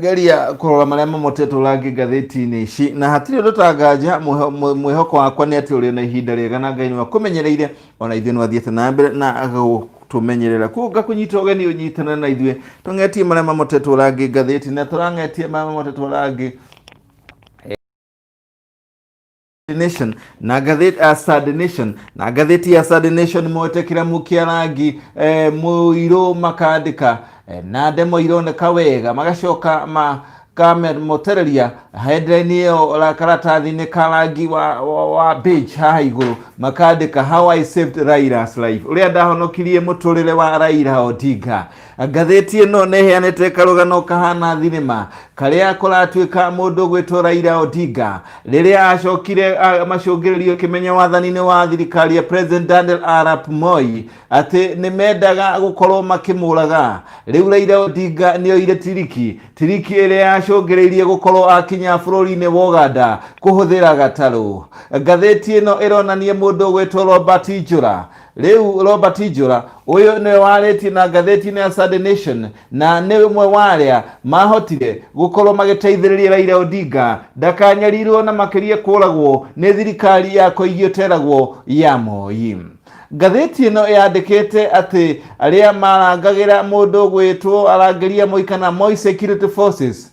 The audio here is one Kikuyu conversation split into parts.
geria kurora maria mamotetwo rangi ngathĩti-inĩ ici na hatirĩ ũndũ ũtanganja mwĩho- mwĩ- mwĩhoko wakwa nĩ atĩ ũrĩ na ihinda rĩega na ngai nĩ akũmenyereire ona ithuĩ nĩ athiĩte na mbere na agũtũmenyerera kuo ngakũnyita ũgeni ũnyitana na ithuĩ tũng'etie marĩa mamotetwo rangi ngathĩti na tũrang'etie marĩa mamotetwo rangi Nation na gatheti uh, Saturday Nation na gatheti ya Saturday Nation mwetekira mukia rangi eh, muiro makandika eh, na ndemo ironeka wega magacoka ma kamer motereria headline iyo la karatathi ni karangi wa, wa, wa beach haha iguru makandika how I saved Raila's life uria ndahonokirie muturire wa Raila Odinga Ngathĩti ĩno nĩ ĩheanĩte karũgano kahana thinema karĩa kũratuĩka mũndũ gwĩtwo Raila Odinga rĩrĩa acokire macũngĩrĩrio kĩmenyo wathani-inĩ wa thirikari ya President Daniel Arap Moi atĩ nĩ mendaga gũkorwo makĩmũraga. Rĩu Raila Odinga nĩ oire tiriki, tiriki ĩrĩa yacũngĩrĩirie gũkorwo akinya bũrũri-inĩ wa Uganda kũhũthĩra gatarũ. Ngathĩti ĩno ĩronania mũndũ gwĩtwo Robert Njũra Rĩu Robert Ijũra ũyũ nĩwe warĩtie na ngathĩti-inĩ ya Sunday Nation na nĩ ũmwe wa arĩa mahotire gũkorwo magĩteithĩrĩria Raila Odinga ndakanyarirwo na makĩria kũragwo nĩ thirikari ya kũigio teragwo ya Moi. Ngathĩti ĩno yandĩkĩte atĩ arĩa marangagĩra mũndũ gwĩtwo arangĩria Moi kana Moi Security Forces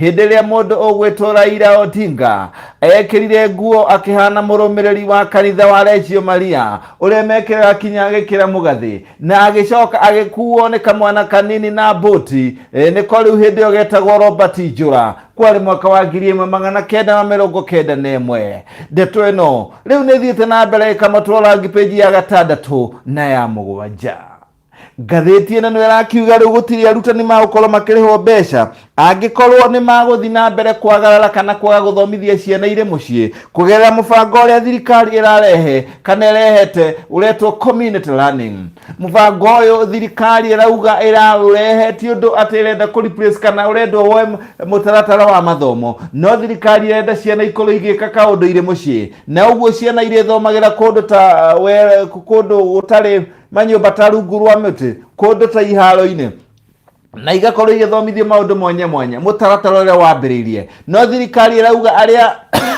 hĩndĩ ĩrĩa mũndũ ũgwĩtwo Raila Odinga ekĩrire nguo akĩhana mũrũmĩrĩri wa kanitha wa Reggio Maria ũrĩa mekĩraga kinya agĩkĩra mũgathĩ na agĩcoka agĩkuo nĩ kamwana kanini na mbũti e, nĩ ko rĩu hĩndĩ ĩyo getagwo Robert Njũra kwarĩ mwaka wa ngiri ĩmwe magana kenda na mĩrongo kenda na ĩmwe ndeto ĩno rĩu nĩ ĩthiĩte na mbere ĩkamatwara ngi peji ya gatandatũ na ya mũgwanja Ngathĩti ĩno nĩyo ĩrakiuga rĩu gũtirĩ arutani magũkorwo makĩrĩhwo mbeca angĩkorwo nĩ magũthiĩ na mbere kwagarara kana kwaga gũthomithia ciana irĩ mũciĩ kũgerera mũbango ũrĩa thirikari ĩrarehe kana ĩrehete ũretwo community learning. Mũbango ũyũ thirikari ĩrauga ĩraũrehe ti ũndũ atĩ ĩrenda kũ replace kana ũrendwo woe mũtaratara wa mathomo, no thirikari ĩrenda ciana ikorwo igĩka kaũndũ irĩ mũciĩ, na ũguo ciana irĩthomagĩra kũndũ ta kũndũ gũtarĩ manyũmba ta rungu rwa mĩtĩ kũndũ ta iharo-inĩ na igakorwo igĩthomithio maũndũ mwanya mwanya mũtaratara ũrĩa wambĩrĩirie no thirikari ĩrauga arĩa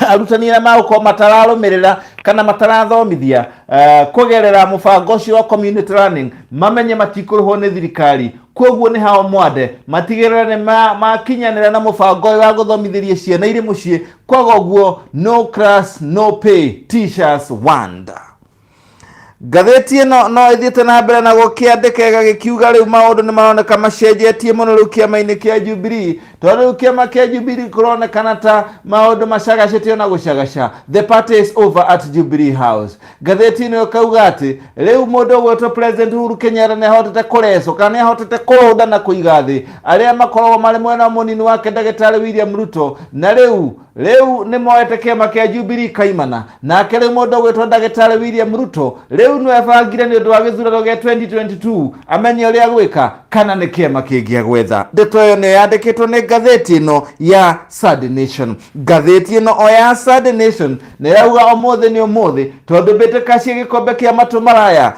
arutani arĩa magũkorwo matararũmĩrĩra kana matarathomithia eh, kũgerera mũbango ũcio wa community learning mamenye matikũrĩhwo nĩ thirikari kwoguo nĩ hao mwande matigĩrĩre nĩ ma- makinyanĩra na mũbango ũyũ wa gũthomithĩria ciana irĩ mũciĩ kwaga ũguo no class no pay teachers wonder Ngathĩti ĩno no ĩthiĩte na mbere na gũkĩandĩka ĩgagĩkiuga rĩu maũndũ nĩ maroneka macenjetie mũno rĩu kĩama-inĩ kĩa Jubilee tondũ rĩu kĩama kĩa Jubilee kũronekana ta maũndũ macagacĩtio na gũcagaca the party is over at Jubilee House ngathĩti ĩno ĩkauga atĩ rĩu mũndũ ũgwĩtwo President Uhuru Kenyatta nĩ ahotete kũrecwo kana nĩ ahotete kũrũnda na kũiga thĩ arĩa makoragwo marĩ mwena mũnini wake ndagĩtarĩ William Ruto na rĩu rĩu nĩ moete kĩama kĩa Jubilee kaimana nake rĩu mũndũ ũgwĩtwo ndagĩtarĩ William Ruto rĩu nĩwe bangire nĩ ũndũ wa gĩthurano gĩa 2022 amenye ũrĩa gwĩka kana nĩ kĩama kĩngĩa gwetha ndeto ĩyo nĩyo yandĩkĩtwo nĩ ngathĩti ĩno ya Sad Nation ngathĩti ĩno o ya Sad Nation nĩrauga ũmũthĩ nĩ ũmũthĩ tondũ mbĩtĩka cia gĩkombe kĩa matũ maraya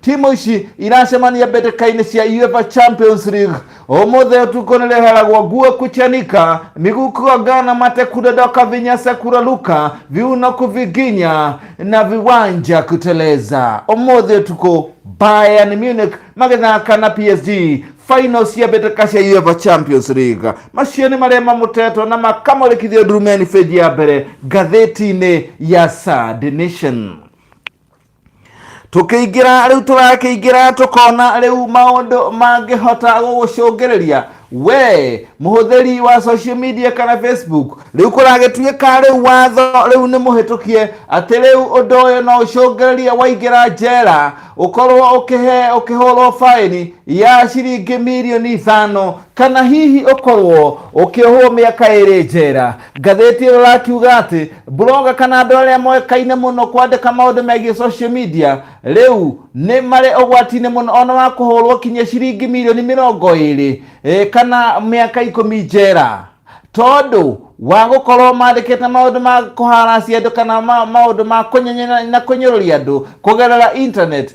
timu ici iracemania mbĩtĩka-inĩ cia UEFA Champions League ũmũthĩ ũtukũ nĩ rĩheragwo nguo kuchanika miguu kugongana mate kudondoka vinyasa kuraruka viuno kuviginya na viwanja kuteleza ũmũthĩ ũtukũ Bayern Munich magĩthaka na PSG final cia mbĩtĩka cia UEFA Champions League macio nĩ marĩa mamutetwo na makamũrĩkithio ndurumeni bĩnji ya mbere ngathĩti-inĩ ya Sad Nation tukiingira riu turakiingira tukona riu maundu mangihota gugucungirirĩa we muhuthiri wa social media kana facebook riu kuragituika riu watho riu ni muhitukie ati riu undu uyu no ucungirirĩa waingira njera ukorwo ukihe ukihurwo faini ya ciringi mirioni ithano kana hihi ukorwo ukiohwo miaka iri njera Ngathĩti ĩyo ĩrakiuga atĩ blogger kana andũ arĩa moĩkaine mũno kwandĩka maũndũ megiĩ social media rĩu nĩ marĩ ũgwati-inĩ mũno ona wa kũhũrwo kinya ciringi mirioni mĩrongo ĩrĩ eh, kana mĩaka ikũmi njera tondũ wa gũkorwo mandĩkĩte maũndũ ma kũharacia andũ kana ma- maũndũ ma kũnyenyera na kũnyũrũria andũ kũgerera internet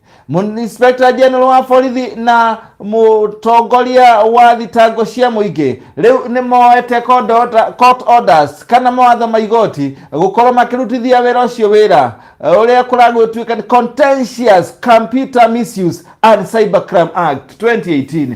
Mu- Inspector General wa borithi na mũtongoria wa thitango cia mũingĩ rĩu nĩ moete court order- court orders kana mawatho ma igoti gũkorwo makĩrutithia wĩra ũcio wĩra eh, ũrĩa kũragũtuĩka nĩ contentious computer misuse and cybercrime act 2018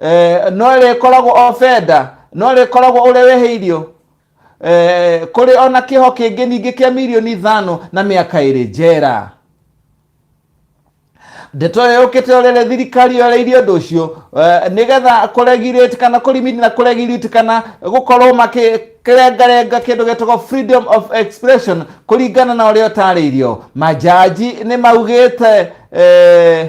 eh, no rĩkoragwo ofenda no rĩkoragwo ũrĩa wehĩirio eh, kũrĩ ona kĩho kĩngĩ ningĩ kĩa mirioni ithano na mĩaka ĩrĩ njera ndeto ĩyo yũkĩte ũrĩrĩ thirikari yoreirie ũndũ ũcio eh, nĩgetha kũregirĩti kana kũrimini na kũregirĩti kana gũkorwo makĩrengarenga kĩndũ gĩtagwo freedom of expression kũringana na ũrĩa ũtarĩirio majaji nĩ maugĩte eh,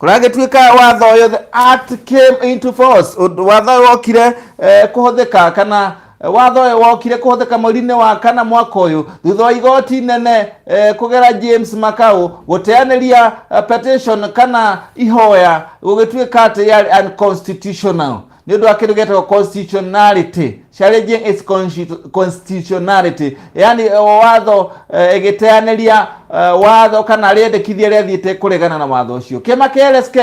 kũragĩtuĩka watho ũyũ the act came into force Ũndũ- watho ũyũ wokire eh, kũhũthĩka kana eh, watho ũyũ wokire kũhũthĩka mweri-inĩ wa kana mwaka ũyũ thutha wa igoti nene eh, kũgera james makau gũteanĩria eh, petition kana ihoya gũgĩtuĩka atĩ yarĩ unconstitutional nĩ ũndũ wa kĩndũ gĩtagwo constitutionality challenging its constitu- constitutionality yani eh, watho eh, ĩgĩteanĩria eh, watho kana rĩendekithia rĩathiĩte kũregana na watho ũcio kĩama kĩa LSK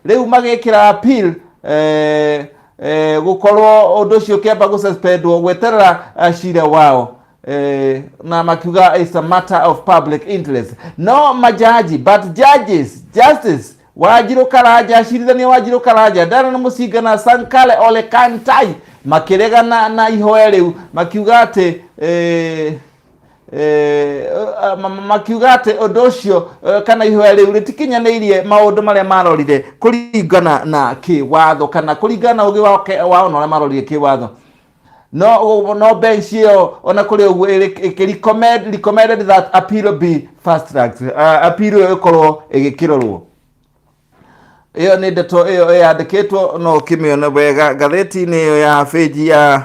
rĩu magĩkĩra appeal eh, eh, gũkorwo ũndũ ũcio kĩamba gũsuspendwo gweterera eh, cira wao eh, na makiuga it's a matter of public interest no majaji but judges justice wanjirũ karanja acirithania wanjirũ karanja ndana nĩ mũcinga na sankale ole kantai makĩregana na ihoya rĩu makiuga atĩ eh, eh, eh, ma- ma- makiuga atĩ ũndũ ũcio eh, kana ihoya rĩu rĩtikinyanĩirie maũndũ marĩa marorire kũringana na kĩwatho kana kũringana na ũgĩ wao ke- wao na ũrĩa marorire kĩwatho no no bench ĩyo ona kũrĩ ũguo ĩrĩ- ĩkĩ- recommend- recommended that appeal be fast tracked uh, appeal ĩyo ĩkorwo ĩgĩkĩrorwo ĩyo nĩ ndeto ĩyo yandĩkĩtwo no ũkĩmĩone wega ngathĩti-inĩ ĩyo ya bĩnji ya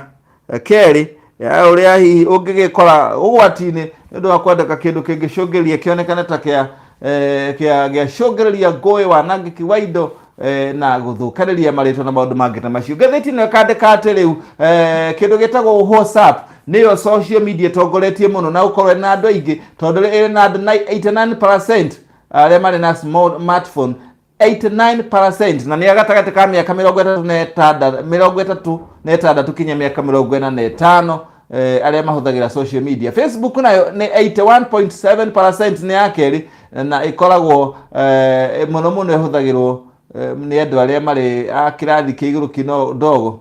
eh, kerĩ ya ũrĩa hihi ũngĩgĩkora ũgwati-inĩ nĩ ũndũ wa kwandĩka kĩndũ kĩngĩcũngĩrĩria kĩonekane ta kĩa eh, kĩa gĩacũngĩrĩria ngũĩ wanangĩki wa indo eh, na gũthũkanĩria marĩtwa na maũndũ mangĩ ta macio ngathĩti ĩno ĩkandĩka atĩ rĩu eh, kĩndũ gĩtagwo whatsapp nĩyo social media ĩtongoretie mũno na gũkorwo ĩrĩ na andũ aingĩ tondũ rĩ- ĩrĩ na andũ nai- 89 arĩa marĩ na small- smartphone 89 na nĩ gatagatĩ ka mĩaka mĩrongo ĩtatũ na ĩtanda- mĩrongo ĩtatũ na ĩtandatũ kinya mĩaka mĩrongo ĩna na ĩtano eh, arĩa mahũthagĩra social media facebook nayo nĩ 81.7 nĩ ya kerĩ na ĩkoragwo eh, mũno mũno ĩhũthagĩrwo eh, nĩ andũ arĩa marĩ a kĩrathi kĩa igũrũ kino ndogo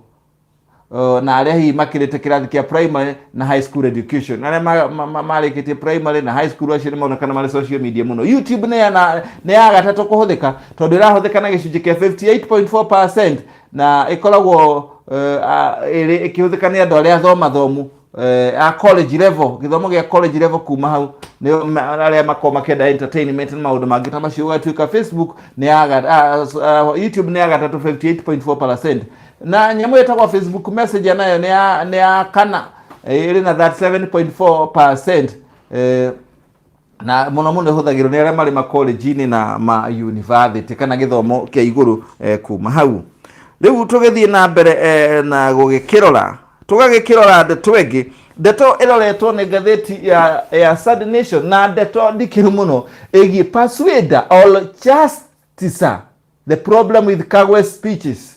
Uh, na arĩa hihi makĩrĩte kĩrathi kĩa primary na high school education arĩa ma- ma- ma- marĩkĩtie primary na high school acio nĩmonekana marĩ social media mũno youtube nĩ ya na- nĩ ya gatatũ kũhũthĩka tondũ ĩrahũthĩka na gĩcunjĩ kĩa 58.4 na ĩkoragwo eh, a- ĩrĩ- ĩkĩhũthĩka nĩ andũ arĩa athomathomu eh, a college level gĩthomo gĩa college level kuma hau nĩo ma- arĩa makoragwo makĩenda entertainment na maũndũ mangĩ ta macio ũgatuĩka facebook nĩ ya ga- ah, s- ah, youtube nĩ ya gatatũ 58.4 na nyamũ ĩtagwo facebook messenger nayo nĩ ya- nĩ ya kana eh, ĩrĩ na 37.4 eh, na muno muno ihũthagĩrwo nĩ arĩa marĩ makolenji-inĩ na mayunivasĩtĩ kana gĩthomo kĩa igũrũ eh, kuma hau rĩu tũgĩthiĩ na mbere eh, na gũgĩkĩrora tũgagĩkĩrora ndeto ĩngĩ ndeto ĩroretwo nĩ ngathĩti ya, ya Sad Nation na ndeto ndikĩru mũno ĩgiĩ Persuader or Justicer The problem with Kagwe speeches.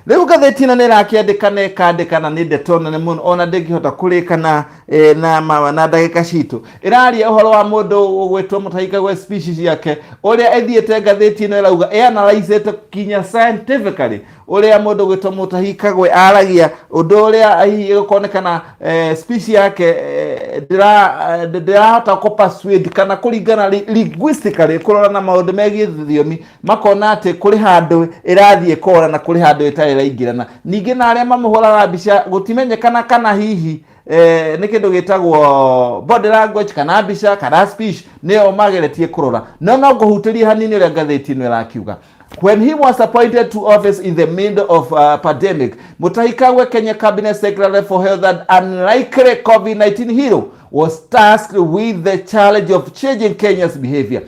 Rĩu gatheti ĩno nĩ ĩrakĩandĩka na ĩkandĩka na nĩ ndeto nene mũno ona ndĩngĩhota kũrĩka na eh, na ma- na ndagĩka citũ ĩraria ũhoro wa mũndũ ũgwĩtwo Mũtahi Kagwe species yake ũrĩa ĩthiĩte ngathĩti ĩno ĩrauga ĩanalyzĩte kinya scientifically ũrĩa mũndũ ũgwĩtwo Mũtahi Kagwe aragia ũndũ ũrĩa hihi ĩgũkonekana eh, species yake eh, ndĩra- eh, ndĩrahota kũ persuade kana kũringana li- linguistically kũrora na maũndũ megiĩ thiomi makona atĩ kũrĩ handũ ĩrathiĩ kora na kũrĩ handũ ĩtarĩ ĩraingĩrana ningĩ na arĩa mamũhũraga mbica gũtimenyekana kana hihi eh, nĩ kĩndũ gĩtagwo body language kana mbica kana speech nĩyo mageretie kũrora no no ngũhutĩrie hanini ũrĩa ngathĩti ĩno ĩrakiuga When he was appointed to office in the middle of uh, pandemic, Mutahi Kagwe, Kenya Cabinet Secretary for Health and unlikely COVID-19 hero, was tasked with the challenge of changing Kenya's behavior.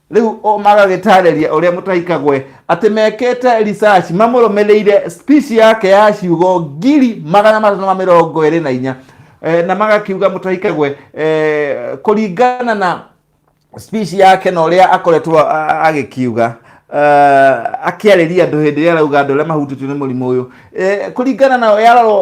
rĩu o magagĩtarĩria ũrĩa mũtaikagwe atĩ mekĩte research mamũrũmĩrĩire speech yake ya ciugo ngiri magana matano ma mĩrongo ĩrĩ na inya eh, na magakiuga mũtaikagwe eh, kũringana na speech yake na ũrĩa akoretwo a- a- agĩkiuga uh, akĩarĩria andũ hĩndĩ ĩrĩa arauga andũ arĩa mahutĩtio nĩ mũrimũ ũyũ Eh, kũringana na yarorwo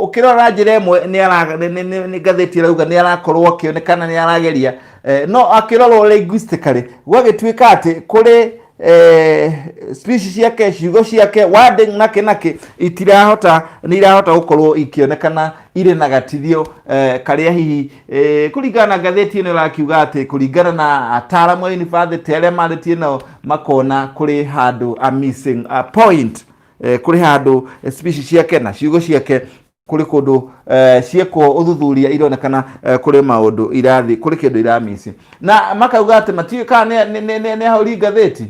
ũkĩrora njĩra ĩmwe nĩ ara- nĩ- nĩ- nĩ- nĩ ngathĩti ĩrauga nĩ arakorwo akĩonekana nĩ arageria Eh, no akĩrorwo linguistically gwagĩtuĩka atĩ kũrĩ eh, speech ciake ciugo ciake wording nake nake itirahota nĩ irahota gũkorwo ikĩonekana irĩ na gatithio eh, karĩa hihi eh, kũringana na ngathĩti ĩno ĩrakiuga atĩ kũringana na ataaramu a yunibacĩtĩ arĩa marĩtie nao makona kũrĩ handũ a missing a point eh, kũrĩ handũ eh, speech ciake na ciugo ciake kũrĩ kũndũ eh, ciekwo ũthuthuria ironekana eh, kũrĩ maũndũ irathi kũrĩ kĩndũ iramisi na makauga atĩ matiũĩ kana nĩ- nĩ- nĩ- nĩ- nĩ ahũri ngathĩti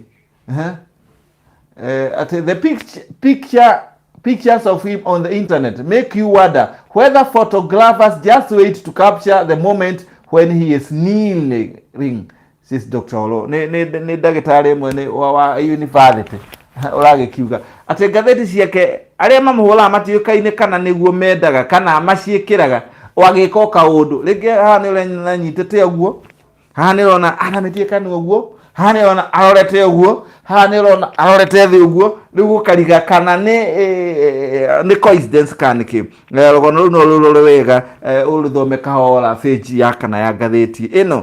Ehe. Eh, atĩ the picture, picture pictures of him on the internet make you wonder whether photographers just wait to capture the moment when he is kneeling Sis Dr. Olo nĩ nĩ- nĩ ndagĩtarĩ ĩmwe nĩ wa- wa yunibacĩtĩ ũragĩkiuga atĩ ngathĩti ciake arĩa mamũhũraga matiũkaine kana nĩguo mendaga kana maciĩkĩraga o agĩka o kaũndũ rĩngĩ haha nĩ ũrona nyitĩte ũguo haha nĩ ũrona aramĩtie kanua ũguo haha nĩ ũrona arorete ũguo haha nĩ ũrona arorete thĩ ũguo rĩu gũkariga kana nĩ eh, nĩ coincidence kana nĩkĩ Eh, rũgano rũu no rũrore wega eh, ũrũthome kahora page ya kana ya ngathĩti ĩno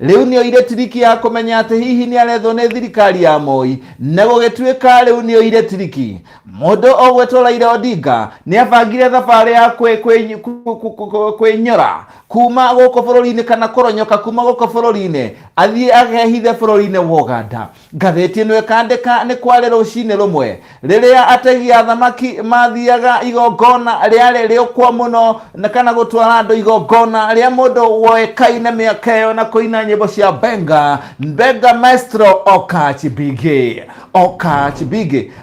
Rĩu nĩoire tiriki ya kũmenya atĩ hihi nĩarethwo nĩ thirikari ya Moi, na gũgĩtuĩka rĩu nĩoire tiriki. Mũndũ ũgwĩtwo Raila Odinga nĩabangire thabarĩ ya kwĩ, kwĩ, kwĩ, kwĩ, kwĩ, kwĩnyora kuma gũkũ bũrũri-inĩ kana kũronyoka kuma gũkũ bũrũri-inĩ athiĩ agehithe bũrũri-inĩ wa Uganda. Ngathĩti ĩno ĩkandĩka nĩ kwarĩ rũcinĩ rũmwe rĩrĩa ategi a thamaki mathiaga igongona rĩarĩ rĩũkwo mũno na kana gũtwara andũ igongona rĩa mũndũ woĩkaine mĩaka ĩyo na kũina nyĩmbo cia benga benga maestro Okach Biggie Okach Biggie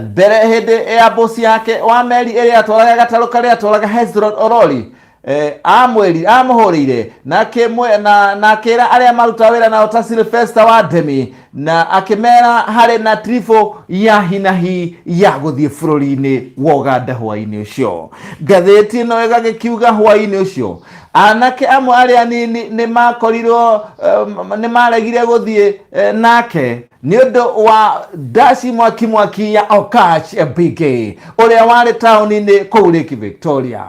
mbere hĩndĩ ya mbosi yake wa meri ĩrĩa atwaraga gatarũ karĩa atwaraga hezron orori eh, amwĩri amũhũrĩire na akĩmwe- na- na akĩra arĩa maruta wĩra nao ta silvesta wa ndemi na akĩmera harĩ na trifo ya hinahi ya gũthiĩ bũrũri-inĩ wa ũganda hwaĩ-inĩ ũcio ngathĩti ĩno ĩgagĩkiuga hwaĩ-inĩ ũcio anake amwe arĩa anini nĩ makorirwo eh, nĩ maregire gũthiĩ eh, nake nĩ ũndũ wa ndasi mwaki mwaki ya okach mbingĩ ũrĩa warĩ taũni-inĩ kũu lake victoria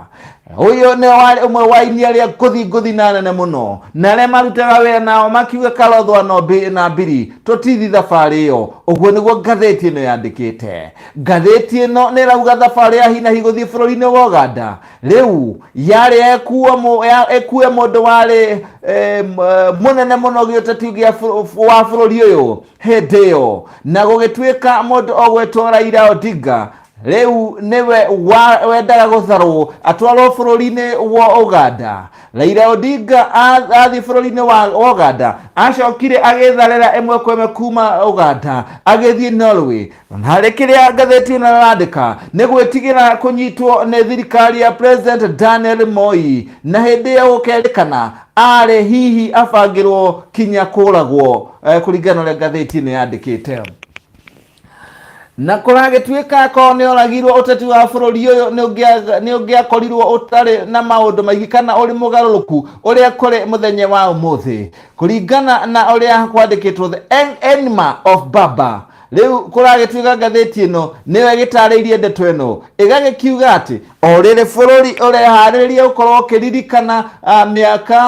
ũyũ nĩ warĩ ũmwe wa inia rĩa ngũthi ngũthi na nene mũno na arĩa marutaga wĩra nao makiuga karothwa no mbi- na mbiri tũtithi thabarĩ ĩyo ũguo nĩguo ngathĩti ĩno yandĩkĩte ngathĩti ĩno nĩ ĩrauga thabarĩ ya hinahi gũthiĩ bũrũri-inĩ wa ũganda rĩu yarĩ ekuo mũ- ya- ekue mũndũ warĩ eh, m- eh, mũnene mũno gĩũteti gĩa bũrũ- wa bũrũri ũyũ hĩndĩ ĩyo na gũgĩtuĩka mũndũ ogwĩtwo raira odinga rĩu nĩwe wa- wendaga gũtharwo atwarwo bũrũri-inĩ wa uganda raira odinga a- athiĩ bũrũri-inĩ wa wa uganda acokire agĩtharĩra ĩmwe kwa ĩmwe kuma uganda agĩthiĩ norway Harĩ kĩrĩa ngathĩti ĩno ĩrandĩka nĩ gwĩtigĩra kũnyitwo nĩ thirikari ya President Daniel Moi na hĩndĩ ĩyo gũkerĩkana arĩ hihi abangĩrwo kinya kũragwo eh, kũringana na ũrĩa ngathĩti ĩno yandĩkĩte na kũragĩtuĩka akorwo nĩ oragirwo ũteti wa bũrũri ũyũ nĩ ũngĩakorirwo ũtarĩ na maũndũ maingĩ kana ũrĩ mũgarũrũku ũrĩa kũrĩ mũthenya wa ũmũthĩ kũringana na ũrĩa kwandĩkĩtwo the enema of baba Rĩu kũragĩtuĩka ngathĩti ĩno nĩyo ĩgĩtarĩirie ndeto ĩno ĩgagĩkiuga atĩ o rĩrĩ bũrũri ũreharĩrĩria gũkorwo ũkĩririkana ah, mĩaka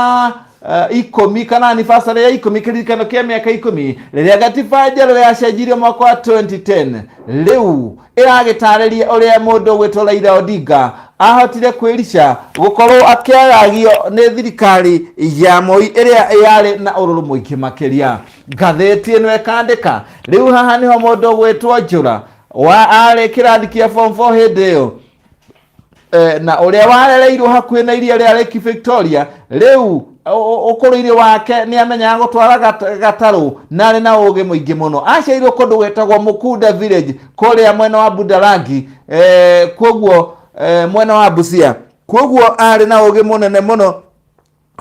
ah, ikũmi kana anniversary ya ikũmi kĩririkano kĩa mĩaka ikũmi rĩrĩa gatiba njerũ yacenjirio mwaka wa 2010 rĩu ĩragĩtarĩria ũrĩa mũndũ ũgwĩtwo Raila Odinga ahotire kwĩrica gũkorwo akĩagagio nĩ thirikari ya Moi ĩrĩa yarĩ na ũrũrũ mũingĩ makĩria ngathĩti ĩno ĩkandĩka rĩu haha nĩho mũndũ gwĩtwo njũra wa arĩ kĩrathi kĩa form 4 hĩndĩ ĩyo Eh, na ũrĩa warereirwo hakuhĩ na iria rĩa Lake Victoria rĩu ũ- ũkũrũ-inĩ wake nĩ amenyaga gũtwara gat- gatarũ na arĩ na ũũgĩ mũingĩ mũno aciairwo kũndũ gwĩtagwo Mukunda village kũrĩa mwena wa Budalangi eh, kwoguo eh, mwena wa Busia kwoguo arĩ na ũũgĩ mũnene mũno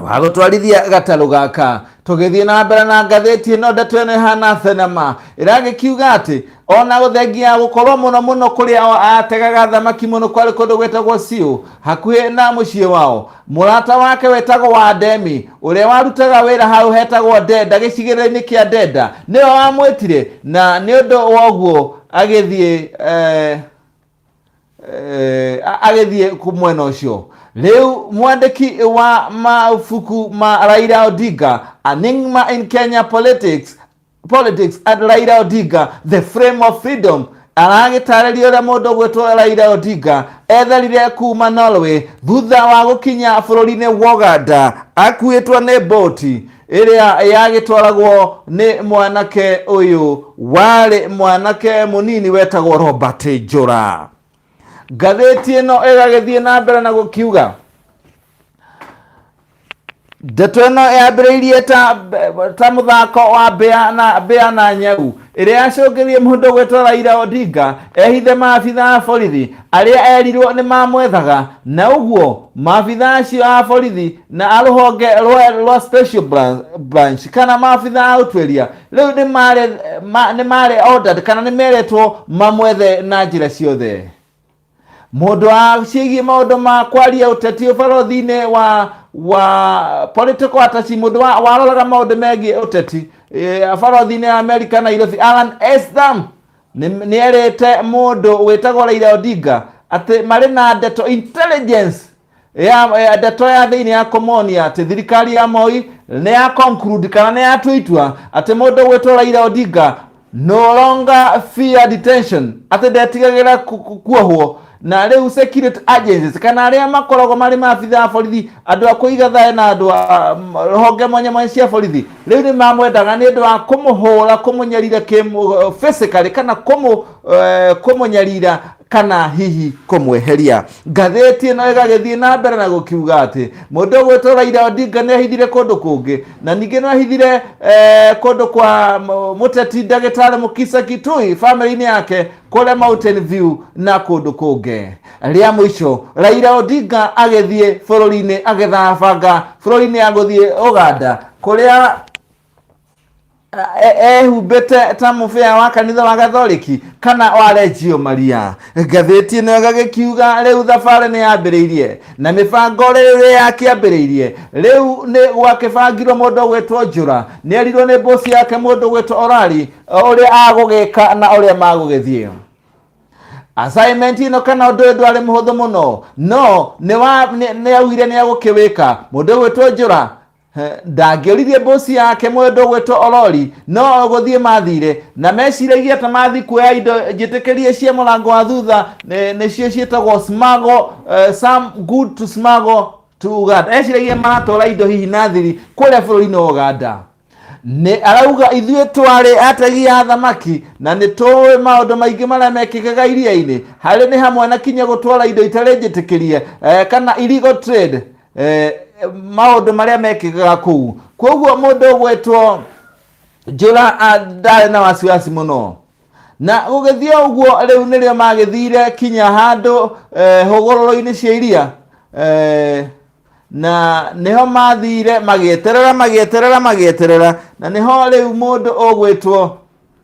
wa gũtwarithia gatarũ gaka tũgĩthiĩ na mbere na ngathĩti ĩno ndeto ĩno ĩhana thenema ĩragĩkiuga atĩ ona gũthengia gũkorwo mũno mũno kũrĩa o ategaga thamaki mũno kwarĩ kũndũ gwĩtagwo siũ hakuhĩ na mũciĩ wao mũrata wake wetagwo wa ndemi ũrĩa warutaga wĩra hau hetagwo ndenda gĩcigĩrĩra-inĩ kĩa ndenda nĩwe wamwĩtire na nĩ ũndũ woguo agĩthiĩ eh, eh, a- agĩthiĩ ku- mwena ũcio rĩu mwandĩki wa mabuku ma raira odinga anigma in kenya politics politics at raira odinga the frame of freedom aragĩtarĩria ũrĩa mũndũ ũgwĩtwo raira odinga etharire kuma norway thutha wa gũkinya bũrũri-inĩ wa uganda akuĩtwo nĩ boti ĩrĩa yagĩtwaragwo nĩ mwanake ũyũ warĩ mwanake mũnini wetagwo robert njũra ngathĩti ĩno ĩgagĩthiĩ na mbere na gũkiuga ndeto ĩno yambĩrĩirie ta, ta mũthako wa mbĩa na, mbĩa na nyau ĩrĩa yacũngĩrie mũndũ gwĩtwo Raila Odinga ehithe maabitha a borithi arĩa erirwo nĩ mamwethaga na ũguo maabitha acio a borithi na a rũhonge rwa, rwa special branch, branch kana maabitha a ũtuĩria rĩu nĩ mare- ma- nĩ mare ordered kana nĩ meretwo mamwethe na njĩra ciothe mũndũ wa ciĩgiĩ maũndũ ma kwaria ũteti ũbarothinĩ wa wa political ataci mũndũ wa- waroraga maũndũ megiĩ ũteti eh, barothinĩ ya amerika nairobi alan estham nĩ erĩte mũndũ wĩtagwo raira odinga atĩ marĩ na ndeto intelligence ya ya ndeto ya thĩinĩ ya komonia atĩ thirikari ya moi nĩ ya conclude kana nĩ yatua itua atĩ mũndũ ũgwĩtwo raira odinga no longer fear detention atĩ ndetigagĩra ku- ku- kuohwo na rĩu security agencies kana arĩa makoragwo marĩ maabitha a borithi andũ a kũiga thayũ na andũ a m- honge mwanya mwanya cia borithi rĩu nĩ mamwendaga nĩ ũndũ wa kũmũhũra kũmũnyarira kĩmũ- physically kana kũmũ eh, kũmũnyarira kana hihi kũmweheria. Ngathĩti ĩno ĩgagĩthiĩ na mbere na gũkiuga atĩ mũndũ ũgwĩtwo Raila Odinga nĩ ahithire kũndũ kũngĩ na ningĩ nĩ ahithire eh, kũndũ kwa m- mũteti ndagĩtarĩ Mukisa Kitui famĩlĩ-inĩ yake kũrĩa Mountain View na kũndũ kũngĩ. Rĩa mũico Raila Odinga agĩthiĩ bũrũri-inĩ agĩthambanga bũrũri-inĩ ya gũthiĩ Uganda kũrĩa E- ehumbĩte ta mũbĩa wa kanitha wa gathoriki kana wa renjio maria ngathĩti ĩno ĩgagĩkiuga rĩu thabarĩ nĩ yambĩrĩirie na mĩbango rĩrĩ ya kĩambĩrĩirie rĩu nĩ gwakĩbangirwo mũndũ gwĩtwo njũra nĩ erirwo nĩ mbũci yake mũndũ gwĩtwo orari ũrĩa agũgĩka na ũrĩa magũgĩthiĩ assignment ino kana undu ndu ari muhuthu muno no ni wa ni augire ni agukĩwĩka mundu gwĩtwo njura Ndangĩoririe mbũci yake mwendwa gwĩtwo Olori, no o gũthiĩ maathire, na meciragia ta mathiĩ kuoya indo njĩtĩkĩrie cia mũrango wa thutha, nĩcio ciĩtagwo smuggle, eh, some good to smuggle to Uganda. Eciragia maratwara indo hihi na thiri kũrĩa bũrũri-inĩ wa Uganda. Nĩ arauga ithuĩ twarĩ ategi a thamaki na nĩ tũĩ maũndũ maingĩ marĩa mekĩkaga iria-inĩ, harĩ nĩ hamwe na kinya gũtwara indo itarĩ njĩtĩkĩrie eh, kana illegal trade eh, maũndũ marĩa mekĩkaga kũu kwoguo mũndũ ũgwĩtwo njũra ah, ndarĩ na wasiwasi mũno na gũgĩthiĩ o ũguo rĩu nĩrĩo magĩthire kinya handũ eh, hũgũrũrũ-inĩ cia iria eh, na nĩho mathire magĩeterera magĩeterera magĩeterera na nĩho rĩu mũndũ ũgwĩtwo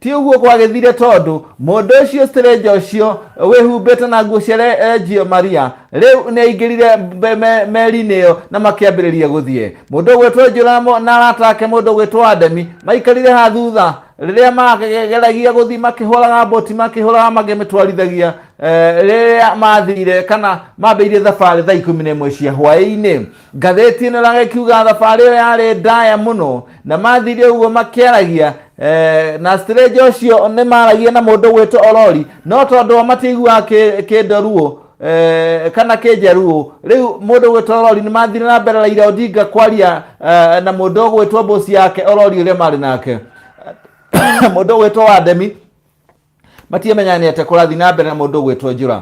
ti ũguo gwagĩthire tondũ mũndũ ũcio strĩnja ũcio wĩhumbĩte na nguo cia renjio maria rĩu nĩ aingĩrire mbe- me- meri-inĩ ĩyo na makĩambĩrĩria gũthiĩ mũndũ ũgwĩtwo njũramo na arata ake mũndũ ũgwĩtwo ademi maikarire ha thutha rĩrĩa mageragia gũthiĩ makĩhũraga mboti makĩhũraga makĩmĩtwarithagia eh, rĩrĩa mathire kana mambĩirie thabarĩ thaa ikũmi na ĩmwe cia hwaĩ-inĩ Ngathĩti ĩno ĩraga ĩkiuga thabarĩ ĩyo yarĩ ndaya mũno na mathiire ũguo makĩaragia eh, na stranger ũcio nĩ maragia na mũndũ ũgwĩtwo Orori no tondũ o matiaiguaga kĩ- kĩndoruo eh, kana kĩnjaruo rĩu mũndũ ũgwĩtwo Orori nĩ mathire na mbere Raila Odinga kwaria eh, na mũndũ ũgwĩtwo mbũci yake Orori ũrĩa marĩ nake mũndũ ũgwĩtwo Wademi matiamenya nĩ atĩa kũrathiĩ na mbere na mũndũ ũgwĩtwo njũra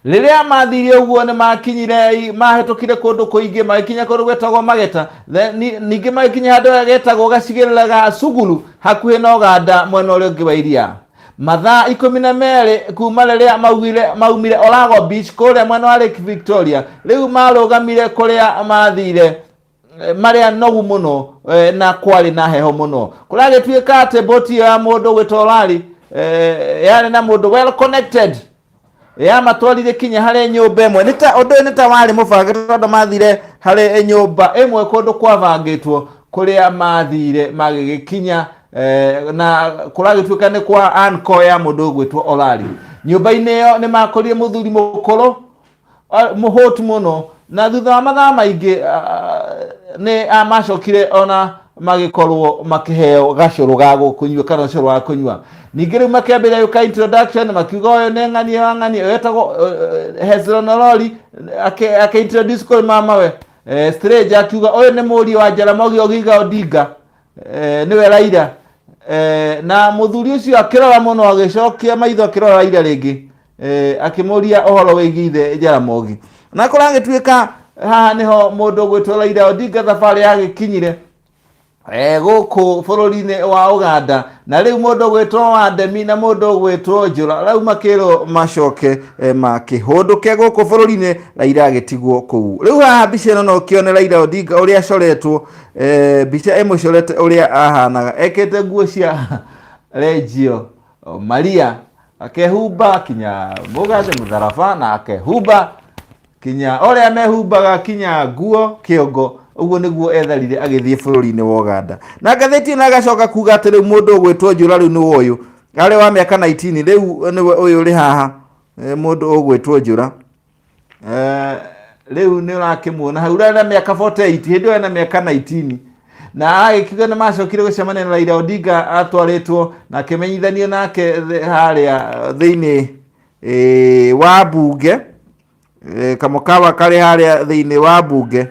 rĩrĩa mathiire ũguo nĩ makinyire mahĩtũkire kũndũ kũingĩ magĩkinya kũndũ gwetagwo mageta Then ni- ningĩ magĩkinya handũ getagwo gacigĩrĩra ga suguru hakuhĩ na ũganda mwena ũrĩa ũngĩ wa iria mathaa ikũmi na merĩ kuma rĩrĩa maugire- maumire orago beach kũrĩa mwena wa lake victoria rĩu marũgamire kũrĩa mathire eh, marĩa nogu mũno eh, na kwarĩ na heho mũno kũragĩtuĩka atĩ boti ĩyo ya mũndũ gwĩta orari eh, yarĩ na mũndũ well connected yamatwarire kinya harĩ nyũmba ĩmwe Nĩ ta- ũndũ ũyũ nĩ ta warĩ mũbange tondũ mathire harĩ nyũmba ĩmwe kũndũ kwabangĩtwo kũrĩa mathire magĩgĩkinya eh, na kũragĩtuĩka nĩ kwa anko ya mũndũ ũgwĩtwo orari nyũmba-inĩ ĩyo nĩ makorire mũthuri mũkũrũ mũhũtu mũno na thutha wa mathaa maingĩ nĩ macokire ona magĩkorwo makĩheo gacũrũ ga kũnyua kana ũcũrũ wa kũnyua ningĩ rĩu makĩambĩrĩria gwĩka introduction makiuga ũyũ nĩ ng'ania wa ng'ania ũyũ etagwo Hezron Orori akĩintroduce kũrĩ mamawe strange akiuga ũyũ nĩ mũriũ wa Jaramogi Oginga Odinga nĩwe Raila na mũthuri ũcio akĩrora mũno agĩcokia maitho akĩrora Raila rĩngĩ Eh, akĩmũria ũhoro wĩgiĩ ithe jaramogi na kũragĩtuĩka haha nĩho mũndũ ũgwĩtwo raira odinga thabarĩ yagĩkinyire eh, gũkũ bũrũri-inĩ wa uganda na rĩu mũndũ ũgwĩtwo wandemi na mũndũ ũgwĩtwo njũra rau makĩrwo macoke eh, makĩhũndũke gũkũ bũrũri-inĩ raira agĩtigwo kũu rĩu haha mbica ĩno no ũkĩone raira odinga ũrĩa acoretwo eh, mbica ĩmũcorete ũrĩa ahanaga ekĩte nguo cia renjio maria akehumba kinya mũgathĩ mũtharaba na akehumba kinya ũrĩa mehumbaga kinya nguo kĩongo ũguo nĩguo etharire agĩthiĩ bũrũri-inĩ wa Uganda na ngathĩti ĩno agacoka kuga atĩ rĩu mũndũ ũgwĩtwo njũra rĩu nĩwe ũyũ arĩ wa mĩaka 19 rĩu nĩwe ũyũ ũrĩ haha eh, mũndũ ũgwĩtwo njũra Eh, rĩu nĩ ũrakĩmuona hau ũrĩa na mĩaka 48 hĩndĩ ĩyo ena mĩaka 19 na agĩkiuga nĩ macokire gũcemania na Raila Odinga atwarĩtwo na akĩmenyithanio nake thĩ- harĩa thĩinĩ eh, wa mbunge eh, kamũkawa karĩ harĩa thĩinĩ wa mbunge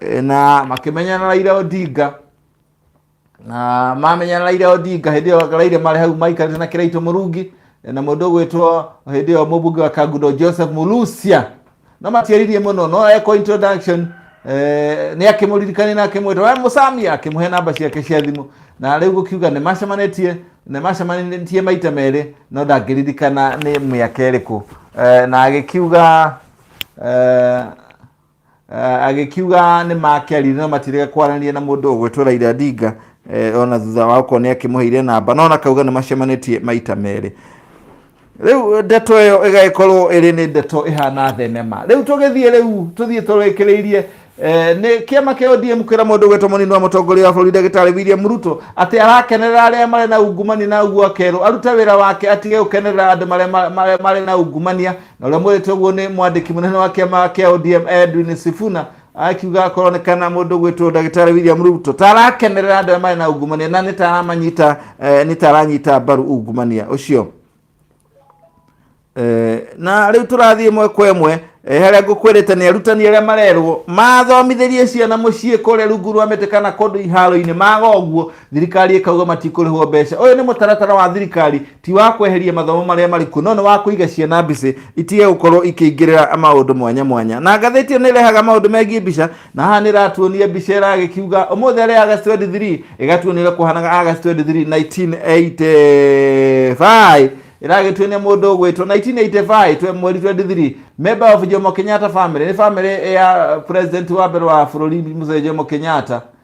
eh, na makĩmenya na Raila Odinga na mamenya raira odinga hĩndĩ ĩyo raira marĩ hau maikarĩte na kĩraitũ mũrungi na mũndũ ũgwĩtwo hĩndĩ ĩyo mũmbunge wa kangundo joseph mulusia no matiaririe mũno no eko introduction eh, nĩ akĩmũririkania na akĩmwĩta we mũcamia akĩmũhe namba ciake cia thimũ na rĩu gũkiuga nĩ macemanĩtie nĩ macemanĩtie maita merĩ no ndangĩririkana nĩ mĩaka ĩrĩkũ eh, na agĩkiuga eh, Eh, agĩkiuga nĩ makĩarire no matirega kwaranĩria na mũndũ ũgwĩtwo Raila Odinga eh, ona thutha wa gũkorwo nĩ akĩmũheire namba no nakauga nĩ macemanĩtie maita merĩ rĩu ndeto ĩyo ĩgagĩkorwo ĩrĩ nĩ ndeto ĩhana thenema rĩu tũgĩthiĩ rĩu tũthiĩ tũrĩkĩrĩirie eh, nĩ kĩama kĩa ODM kwĩra mũndũ ũgwĩtwo mũnini wa mũtongoria wa bũrũri ndagĩtarĩ William Ruto atĩ arakenerera arĩa marĩ na ungumania na ũguo akerwo arute wĩra wake atige gũkenerera andũ marĩa ma- marĩa marĩ na ungumania na ũrĩa mwĩrĩte ũguo nĩ mwandĩki mũnene wa kĩama kĩa ODM Edwin Sifuna akiuga koronekana mũndũ gwĩtwo ndagĩtarĩ William Ruto tarakenerera andũ arĩa marĩ na ungumania na nĩ taramanyita eh, nĩ taranyita mbaru ungumania ũcio Eh, na rĩu tũrathiĩ ĩmwe kwa ĩmwe eh, harĩa ngũkwĩrĩte nĩ arutani arĩa marerwo mathomithĩrie ciana mũciĩ kũrĩa rungu rwa mĩtĩ kana kũndũ iharo-inĩ maga ũguo thirikari ĩkauga matikũrĩhwo mbeca ũyũ nĩ mũtaratara wa thirikari ti wa kweheria mathomo marĩa marĩ kuo no nĩ wa kũiga ciana mbicĩ itige gũkorwo ikĩingĩrĩra maũndũ mwanya mwanya na ngathĩti ĩyo nĩ ĩrehaga maũndũ megiĩ mbica na haha nĩ ĩratuonia mbica ĩragĩkiuga ũmũthĩ arĩ agast 23 ĩgatuonia ũrĩa kũhanaga agast 23 1985 ĩragĩtuonia mũndũ ũgwĩtwo 1985 twe mweri 23 member of jomo kenyatta family nĩ family ya president wa mbere wa bũrũri mzee jomo kenyatta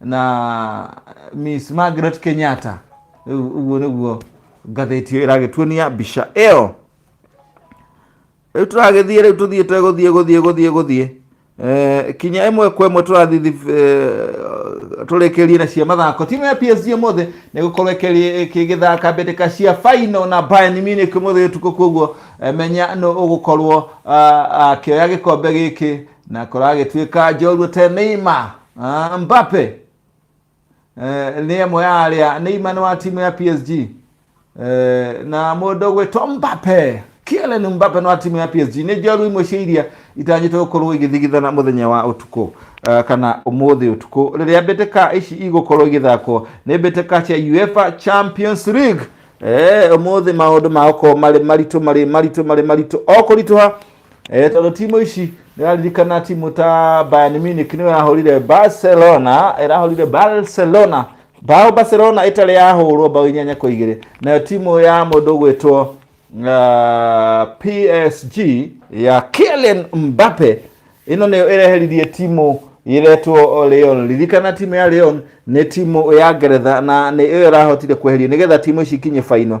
na miss margaret kenyatta Rĩu ũguo nĩguo ngathĩti ĩyo ĩragĩtuonia mbica ĩyo rĩu tũragĩthiĩ rĩu tũthiĩ tegũthiĩ gũthiĩ gũthiĩ gũthiĩ Eh, kinya ĩmwe kwa ĩmwe tũrathiĩ thib- eh, tũrĩkĩrie na cia mathako timu ya psg ũmũthĩ nĩ gũkorwo ĩkĩrĩ- ĩkĩgĩthaka mbĩtĩka cia final na bayern munich ũmũthĩ ũtukũ koguo eh, menya nũ ũgũkorwo ah, akĩoya gĩkombe gĩkĩ na kũragĩtuĩka njorua te Neymar uh, Mbappe uh, nĩ ĩmwe ya arĩa Neymar nĩ wa timu ya PSG uh, eh, na mũndũ gwĩtwo Mbappe Kylian Mbappe no timu ya PSG nĩ njorua imwe cia iria itanyĩte gũkorwo igĩthigithana mũthenya wa ũtukũ uh, kana ũmũthĩ ũtukũ rĩrĩa mbĩtĩka ici igũkorwo igĩthakwo nĩ mbĩtĩka cia UEFA Champions League eh, ũmũthĩ maũndũ magũkorwo marĩ maritũ marĩ maritũ marĩ maritũ o kũritũha eh, tondå timu ici nä raririkana timu ta Bayern Munich nä yahårire Barcelona ärahårire Barcelona bao Barcelona ĩtarĩ yahũrwo bao inyanya kwa igĩrĩ nayo timu ya mũndũ ũgwĩtwo uh, PSG ya Kylian Mbappe ĩno nĩyo ĩreheririe timu ĩretwo Leon ririkana timu ya Leon nĩ timu ya Ngeretha na nĩ ĩyo ĩrahotire kweheria nĩgetha timu ici ikinye baino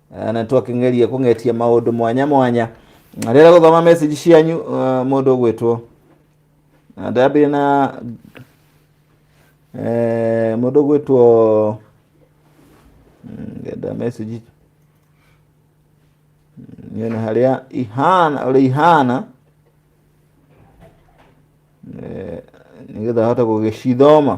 Eh, na twakĩngeria kũng'etia maũndũ mwanya mwanya Na rĩrĩa gũthoma message cianyu eh, mũndũ ũgwĩtwo Na ndambire na eh, mũndũ ũgwĩtwo Mm, ngenda message nyone harĩa ihana ũrĩa ihana Eh, nĩgetha hote gũgĩcithoma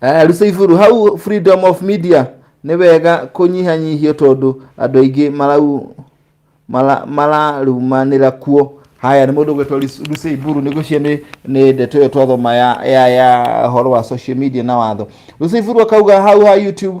Eh, Rusaiburũ hau freedom of media nĩ wega kũnyihanyihio tondũ andũ aingĩ marau mara- mararumanĩra kuo haya nĩ mũndũ gwĩtwo Rusaiburũ nĩ gũcio nĩ nĩ ndeto ĩyo twathoma ya ya ya ũhoro wa social media na watho Rusaiburũ akauga hau ha YouTube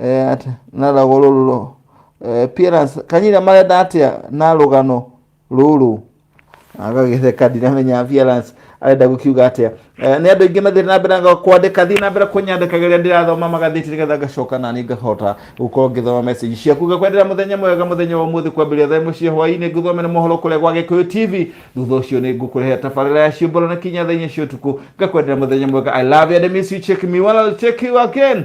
eh, at- na ragwo rũrũ rũ- eh, appearance kanyina marenda atĩa na rũgano rũrũ agagĩtheka ndiramenya appearance arenda gũkiuga atĩa Eh, nĩ andũ aingĩ mathiĩ na mbere na kwandĩka thiĩ na mbere kũnyandĩkagĩrĩa ndĩrathoma magathĩti nĩgetha ngacoka nani ngahota gũkorwo ngĩthoma message ciaku ngakwendera mũthenya mwega mũthenya wa ũmũthĩ kwambĩrĩria thaa ĩmwe cia hwaĩ-inĩ ngũthomere mohoro kũrĩa gwa gĩkũyũ tv thutha ũcio nĩ ngũkũrehera tabarĩra ya ciũmbũro na kinya thaa inya cia ũtukũ ngakwendera mũthenya mwega i love you and I miss you check me well I'll check you again